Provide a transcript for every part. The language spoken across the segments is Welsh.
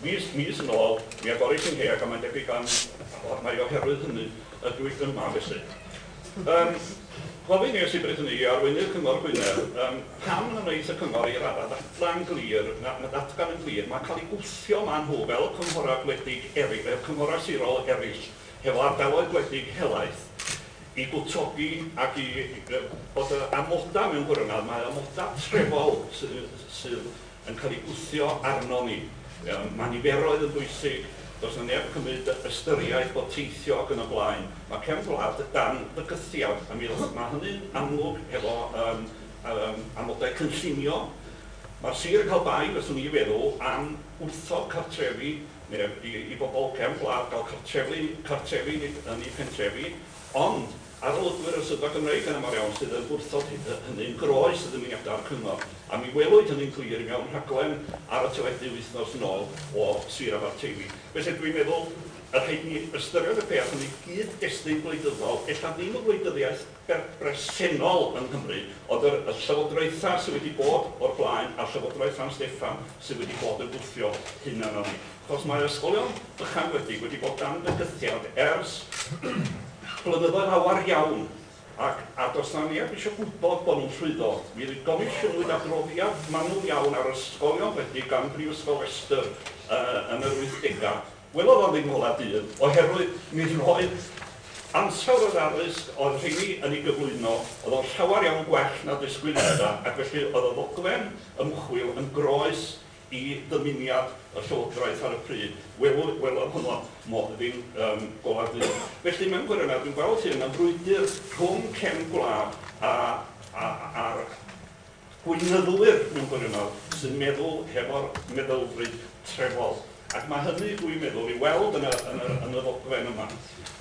Mis, mis yn ôl, mi agoris i ngheg a mae'n debyg am mai oherwydd hynny ydw i yma felly. Yym, gofyn i'r Llywodraeth hynny i arweinydd Cyngor Gwynedd, yym, pam na wnaeth y Cyngor ei raddau ddatgan glir, na, na ddatgan yn glir, mae cael ei gwthio maen nhw fel cynghorau gwledig eri-, fel cynghorau sirol eraill, hefo ardaloedd gwledig helaeth, i gwtogi ac i, yy, bod y amodau mewn gwirionedd, mae amodau trefol sy-, sydd yn cael ei gwthio arnon ni. Yym, mae niferoedd yn bwysig, does 'na neb yn cymryd y ystyriaeth bod teithio ac yn y blaen, mae cefn gwlad dan fygythiad, a mi o'dd, mae hynny'n amlwg hefo yym yym amodau cynllunio. Mae'r sir yn cael bai, fyswn i feddwl, am wrthod cartrefi, neu i i bobl cefn gwlad gael cartrefu cartrefi yn eu pentrefi, Ond, arolygwyr y Swyddfa Gymreig yn aml iawn sydd yn gwrthod hynny'n groes i ddymuniadau'r Cyngor, a mi welwyd hynny'n glir mewn rhaglen ar y teledu wythnos yn ôl o Sir Abarteifi. Felly, dwi'n meddwl y rhaid i ni ystyried y peth yn ei gyd-destun gwleidyddol, ella ddim y gwleidyddiaeth bresennol yng Nghymru, ond yr y llywodraethau sydd wedi bod o'r blaen a'r llywodraeth San Steffan sydd wedi bod yn gwthio hyn arnon ni. Os mae'r ysgolion ychanwedig wedi bod dan fygythiad ers blynyddoedd lawer iawn ac a does 'na neb eisiau gwybod bod nhw'n llwyddo, mi gomisiynwyd adroddiad manwl iawn ar ysgolion wledig gan Brifysgol Leicester yn yr wythdegau, welodd o ddim ngolau dydd oherwydd mi roedd ansawdd yr addysg oedd rheiny yn ei gyflwyno oedd o'n llawer iawn gwell na disgwyliadau ac felly oedd y ddogfen ymchwil yn groes i ddymuniad y Llywodraeth ar y pryd, wel, welodd honno modd ddim yn golau du. Felly, mewn gwirionedd, dwi'n gweld hyn yn frwydr rhwng cefn gwlad a, a, a'r gweinyddwyr, mewn gwirionedd, sy'n meddwl hefo'r meddylfryd trefol. Ac mae hynny, dwi'n meddwl, i'w weld yn y, yn y, yn y ddogfen yma.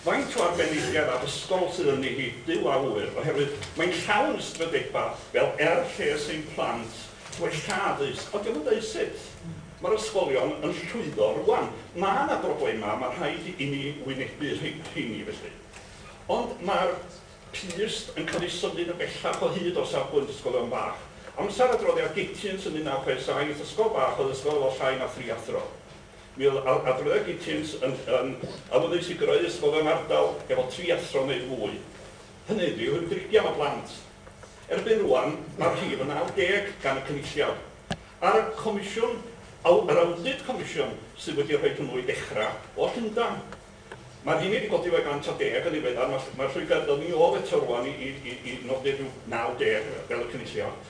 Faint o arbenigedd addysgol sydd ynddi hi, Duw a ŵyr, oherwydd mae'n llawn ystradebau fel er lles ein plant, Gwella addysg. Ond 'di o'm yn deud sut. Mae'r ysgolion yn llwyddo rŵan. Mae 'na broblemau, mae'n rhaid i ni wynebu rheini felly. Ond mae'r pyst yn cael ei symud yn bellach o hyd o safbwynt ysgolion bach. Amser adroddiad Gitchens yn 1967, ysgol bach oedd ysgol efo llai na thri athro. Mi oedd adroddiad Gitchens yn awyddus i greu ysgolion ardal efo tri athro neu fwy. Hynny ydi, rwy'n dricio am y plant. Erbyn rŵan, mae'r rhif yn 90 gan y Cynulliad. A'r comisiwn, aw- yr awdit comisiwn, sydd wedi rhoi hwnnw i ddechrau, o Llundain. Mae'r rheiny wedi codi fe 110 yn ddiweddar. Mae'r mae'r llwybr yn dod ni ôl eto rŵan i i i i nodi rhyw 90, fel y Cynulliad.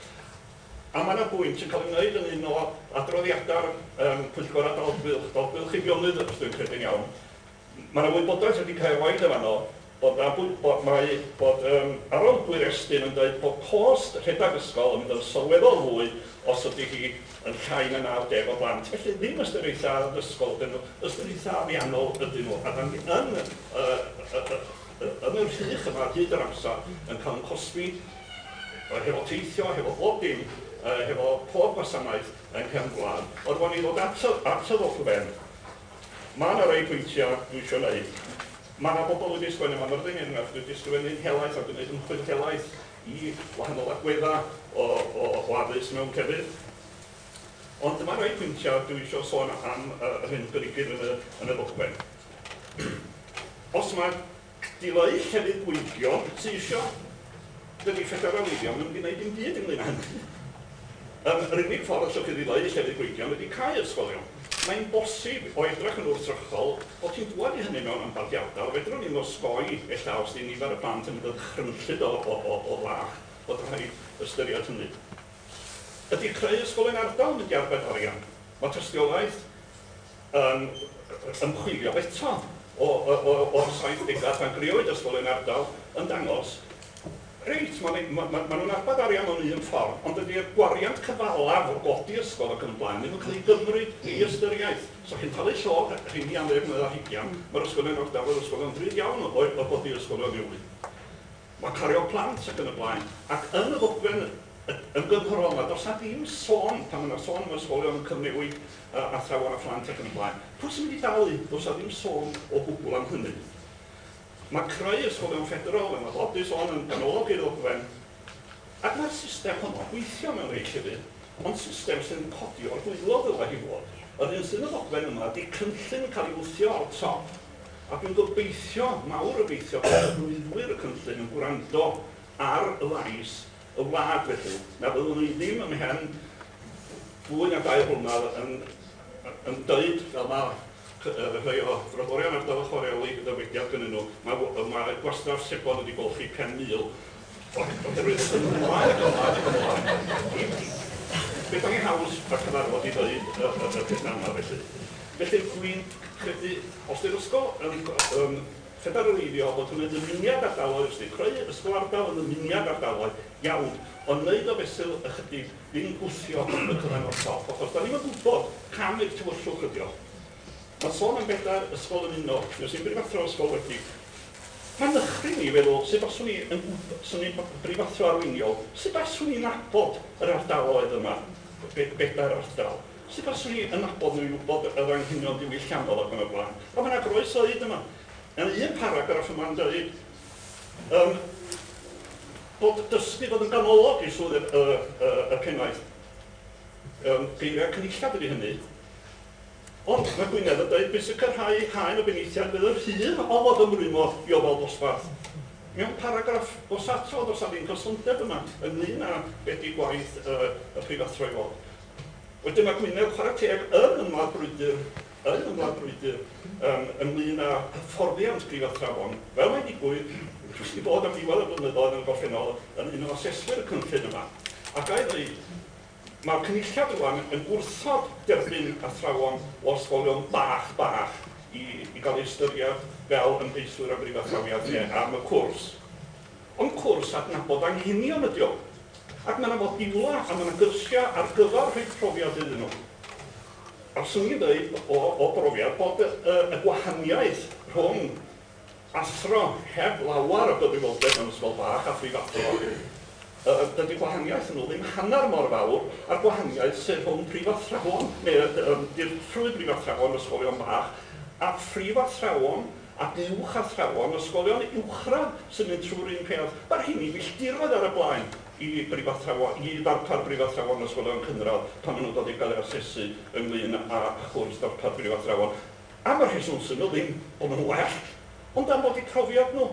A mae yna bwynt yn cael ei wneud yn un o adroddiadau'r yym Pwyllgor Adolygfylch, Adolygfylch i Fionnydd, os dwi'n credu'n iawn, Mae 'na wybodaeth wedi cael ei roid yn fan 'no bod 'na bwy- bod mae bod yym Aron Dŵr Estyn yn deud bod cost rhedeg ysgol yn mynd yn sylweddol fwy os ydy hi yn llai na 90 o blant. Felly ddim ystyr eitha' addysgol ydyn nhw, ystyr eitha' ariannol ydyn nhw, a 'dan ni yn yy yy yy yy yn y rhych yma ar hyd yr amsar yn cael ein cosbi yy hefo teithio, hefo bob dim, yy hefo pob gwasanaeth yng nghefn gwlad. Ond rŵan i ddod at y at y ddogfen, Mae yna rai pwyntiau dwi isio wneud. Mae yna bobl wedi sgwennu am Aberdeen, er enghraifft, wedi ysgrifennu'n helaeth a wedi gwneud ymchwil helaeth i wahanol agweddau o o o addysg mewn crefydd. Ond dyma rai pwyntiau dwi isio sôn am yr hyn berygir yn y yn y ddogfen. Os mae Dylai llefydd bwygio teithio. Dydi phedair ar ddyddiau ddim yn gwneud dim byd ynglŷn â hynny. Yym, yr unig ffordd allwch chi ddileu llefydd bwygio ydi cau ysgolion. Mae'n bosib, o edrych yn wrthrychol, bod hi'n dŵad i hynny mewn ambell i ardal. Fedrwn ni osgoi, ella, os 'di nifer y plant yn mynd yn ddychrynllyd o o o o fach, bod rhaid ystyried hynny. Ydi creu ysgol yn ardal yn mynd i arbed arian? Mae tystiolaeth yn ymchwilio eto o'r saithdegau pan grëwyd ysgol yn ardal yn dangos, reit, maen nhw'n arbed arian mewn un ffordd, ond dydy'r gwariant cyfalaf o godi ysgol ac yn y blaen ddim yn cael ei gymryd i ystyriaeth. Os dach chi'n talu llog, rheini am ddeg mlynedd ar hugain, mae'r ysgolion ardal yr ysgolion drud iawn o godi ysgolion newydd. Mae cario plant ac yn y blaen. Ac yn y ddogfen ymgynghorol 'ma, does 'na ddim sôn, pan ma' 'na sôn am ysgolion yn cyfnewid athrawon a phlant ac yn y blaen, pwy sy'n mynd i dalu? Does 'na ddim sôn o gwbwl am hynny. Mae creu ysgolion ffederal, fel mae Bob 'di sôn, yn ganolog i'r ddogfen, ac mae'r system honno'n gweithio mewn rhai llefydd, ond system sy'n codi o'r gwaelod ddylai hi fod. Yr un sy'n y ddogfen yma ydy cynllun yn cael ei wthio o'r top. A dwi'n gobeithio, mawr obeithio, bod arweinwyr y cynllun yn gwrando ar lais y wlad felly, na fyddwn ni ddim ymhen fwy na dair blynedd yn yn dweud, fel mae rhai o Frodorion Ardal y Chwareli yn dywediad gynnyn nhw, mae gwastraff sebon wedi golchi 5,000 Oherwydd yn wael ac yn wael ac yn wael, i mi. Beth am i haws a cyfarfod i ddeud y y y pethau yma felly? Felly, dwi'n credu, os di'r ysgol yn go- yn ffederaleiddio, bod hwnna'n ddymuniad ardaloedd, os di'n creu ysgol ardal yn ddymuniad ardaloedd, iawn, ond neud o fesul ychydig, ddim gwthio y cyfan o'r top, achos 'dan ni'm yn gwbod cam i'r tywyllwch ydi o. Mae'n sôn am bedair ysgol yn uno, Nos Ynni Brifathro ysgol wedi. Mae'n nychryn i feddwl sut baswn i yn gwb, swn i'n brifathro arweiniol, sut baswn i'n nabod yr ardaloedd yma, be, bedair ardal, sut baswn i yn nabod nhw i wybod yr anghenion diwylliannol ac yn y blaen. Ond mae yna groes oed yma. Mae yna un paragraff yma'n dweud um, bod dysgu fod yn ganolog i swydd y, y, y, y pennaeth. Um, geiriau cynulliad ydy hynny. Ond mae Gwynedd yn dweud pwy sy'n cyrhau eu haen o benaethiaid fydd yr hyn a ofodd ymrwymo i ofal dosbarth. Mewn paragraff os ato does 'na ddim cysondeb yma ynglŷn â be ydy gwaith y preifathro i fod. Wedyn mae Gwynedd, chwarae teg, yn ymladd brwydr, yn ymladd brwydr yym ynglŷn â hyfforddiant preifathrawon. Fel mae'n digwydd, dwi 'di bod am ddiwedd y blynyddoedd yn y gorffennol yn un o aseswyr y cynllun yma, a ga i ddeud, Mae'r Cynulliad rŵan yn gwrthod derbyn athrawon o ysgolion bach, bach, i i gael eu ystyried fel ymgeiswyr am brifathrawiad neu am y cwrs. Ond cwrs adnabod anghenion ydy o. Ac mae 'na fodiwlau a mae 'na gyrsiau ar gyfer rhoi profiad iddyn nhw. A fyswn i'n dweud, o o brofiad, bod y gwahaniaeth rhwng Athro heb lawer o gyfrifoldeb mewn ysgol bach a phrifathro, yy dydy gwahaniaeth nhw ddim hanner mor fawr â'r gwahaniaeth sydd rhwng prifathrawon, neu yy yym dirprwy brifathrawon ysgolion bach, a phrifathrawon a uwchathrawon ysgolion uwchradd sy'n mynd trwy'r un peth. Mae'r rheiny filltiroedd ar y blaen i brifathrawon, i ddarpar brifathrawon ysgolion cynradd pan maen nhw'n dod i gael eu hasesu ynglŷn â chwrs darpar prifathrawon. Am y rheswm syml ddim bod nhw'n well, ond am fod eu profiad nhw.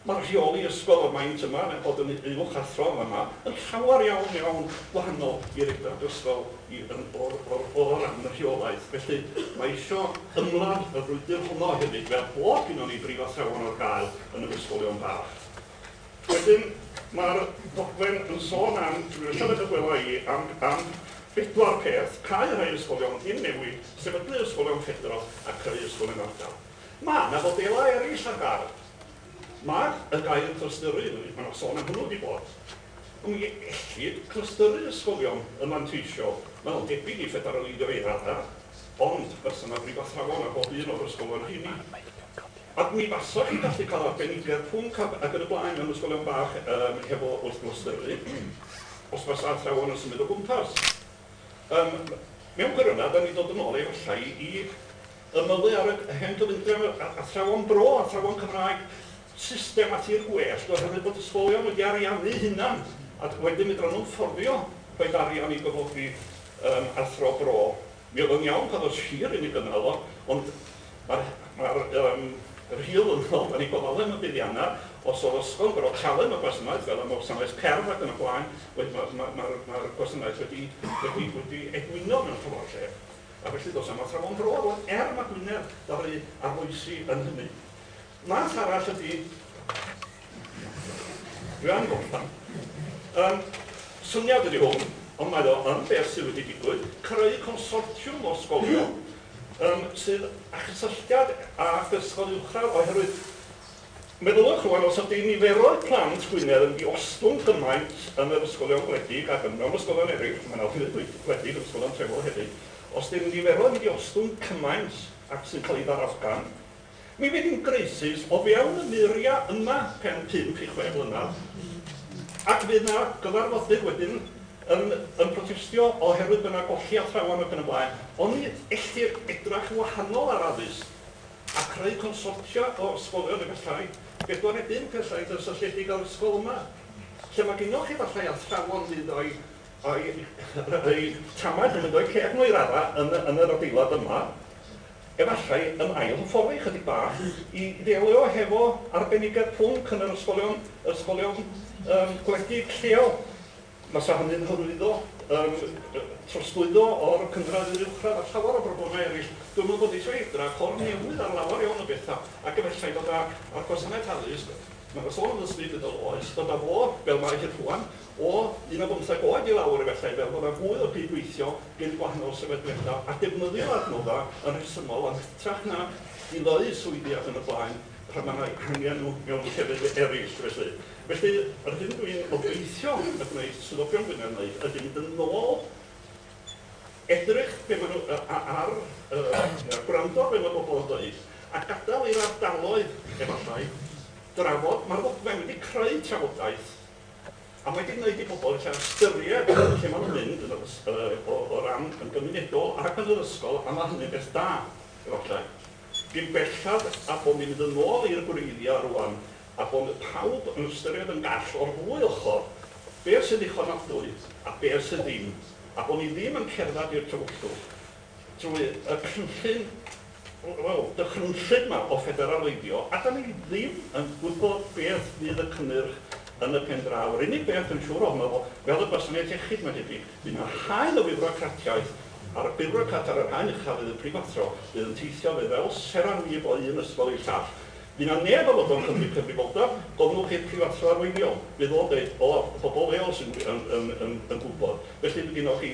Mae'r rheoli ysgol o'r maint yma yn eu bod yn uwch athro yn fama yn llawer iawn, iawn wahanol i'r Edrag ysgol i yn o'r, o'r, o ran y rheolaeth. Felly, mae isio ymladd y frwydr honno hefyd, fel bod gynnon ni brifathrawon ar gael yn yr ysgolion bach. Wedyn, mae'r ddogfen yn sôn am, dwi eisiau edrych wela i, am am bedwar peth, cau rhai ysgolion, dim newid, sefydlu ysgolion ffedro a creu ysgol yn ardal. Mae 'na fodelau eraill ar gael. Mae'r y gair 'clystyru', mae 'na sôn am hwnnw wedi bod. Mi ellid clystyru ysgolion yn fanteisiol, mae'n debyg i ffederaleiddio i raddau, Ond, bysa 'na brif athrawon ar bob un o'r ysgolion rheini. Ac mi fasa chi'n gallu cael arbenigedd pwnc ac ac yn y blaen mewn ysgolion bach yym hefo wrth gwrs dyfu os fasa athrawon yn symud o gwmpas. Yym mewn gwirionedd 'dan ni'n dod yn ôl efallai i ymylu ar y hen gyfundrefn yr a- athrawon bro, athrawon Cymraeg, system a thir gwellt oherwydd bod ysgolion wedi ariannu'u hunan a wedyn fedran nhw'm fforddio rhoid arian i gyflogi Yn athro bro. Mi oedd o'n iawn pan oedd Sir yn ei gynnal o, ond mae'r mae'r yym yr hil yn ôl yn ei gofal e am y buddiannau. Os oedd ysgol yn gorfod talu am y gwasanaeth, fel am y wasanaeth cerdd ac yn y blaen, wedyn mae'r mae'r mae'r mae'r gwasanaeth wedi wedi wedi egwyno mewn ffordd lle. A felly does na'm athrawon bro rŵan, er ma' Gwynedd ddaru arloesi yn hynny. Math arall ydi Grand Gomplan. Yym, syniad ydi hwn, ond mae o yn beth sydd wedi digwydd, creu consortiwm o sgolion yym sydd â chysylltiad â ysgol uwchradd oherwydd meddyliwch rŵan os ydi niferoedd plant Gwynedd yn diostwng gymaint yn yr ysgolion gwledig ac yn mewn ysgolion eraill, mae 'na offeryn gwledig yn ysgolion trefol hefyd, os di'r niferoedd yn diostwng cymaint ac sy'n cael ei ddarogan, Mi fydd hi'n graesus o fewn y muriau yma pen pump i chwe mlynedd, ac fydd 'na gyfarfodydd wedyn yn yn protestio oherwydd bod 'na golli athrawon ac yn y blaen. Oni ellir edrach yn wahanol ar addysg a creu consortia o ysgolion efallai, bedwar neu bump ella eitha' sylltiedig â'r ysgol yma, lle ma' gynnoch chi efallai athrawon fydd o'u o'u eu tamaid nhw'n mynd o'u ceg nhw i raddau yn yn yr adeilad yma, Efallai yn ail hyfforddi ychydig bach i ddelio hefo arbenigedd pwnc yn yr ysgolion, yr ysgolion yym gwledig lleol. Fasa hynny'n hyrwyddo yym trosglwyddo o'r cynradd i'r uwchradd a llawer o broblemau eraill. Dwi'm yn gwybod, isio edrych o'r newydd ar lawer iawn o bethau, ac efallai fod â, a'r gwasanaeth addysg, mae 'na sôn am ddysgu bydol oes, fod â fo, fel mae hi rŵan, o 15 oed i lawr efallai, fel bod 'na fwy o gyd-weithio rhwng gwahanol sefydliadau a defnyddio adnoddau yn rhesymol yn hytrach na dileu swyddi ac yn y blaen pan mae 'na angen nhw mewn llefydd eraill felly. Felly, yr hyn dw i'n obeithio y gwneith swyddogion Gwynedd wneud ydy mynd yn ôl, edrych be maen nhw a- a- ar yy gwrando ar be mae pobl yn ddeud a gadael i'r ardaloedd efallai drafod. Mae'r ddogfen wedi creu trafodaeth. A mae 'di gwneud i bobl ella ystyried lle maen nhw'n mynd yn yr ys- yy o o ran yn gymunedol ac yn yr ysgol a ma' hynny'n beth da, efallai. Dim bellad a bod ni'n mynd yn ôl i'r gwreiddiau rŵan a bod pawb yn ystyried yn gall o'r ddwy ochr, be' sy'n ddichonadwy a be' sydd ddim, a bod ni ddim yn cerdded i'r tywyllwch drwy y cynllun Wel, dychrynllyd 'ma o ffederaleiddio, a 'dan ni ddim yn gwybod beth fydd y cynnyrch yn y pen draw. Yr unig beth dwi'n siŵr ohono fo, fel y gwasanaeth iechyd, mae'n debyg, fydd 'na haen o fiwrocratiaeth, a'r biwrocrat ar yr haen ucha' fydd y prifathro, fydd yn teithio fe fel seran wib o un ysgol i'r llall. Fydd 'na neb yn fodlon cymryd cyfrifoldeb, gofynnwch i'r prifathro arweiniol, fydd o'n deud, 'O, y pobol leol sy'n yn yn yn yn gwybod'. Felly, ma' gynnoch chi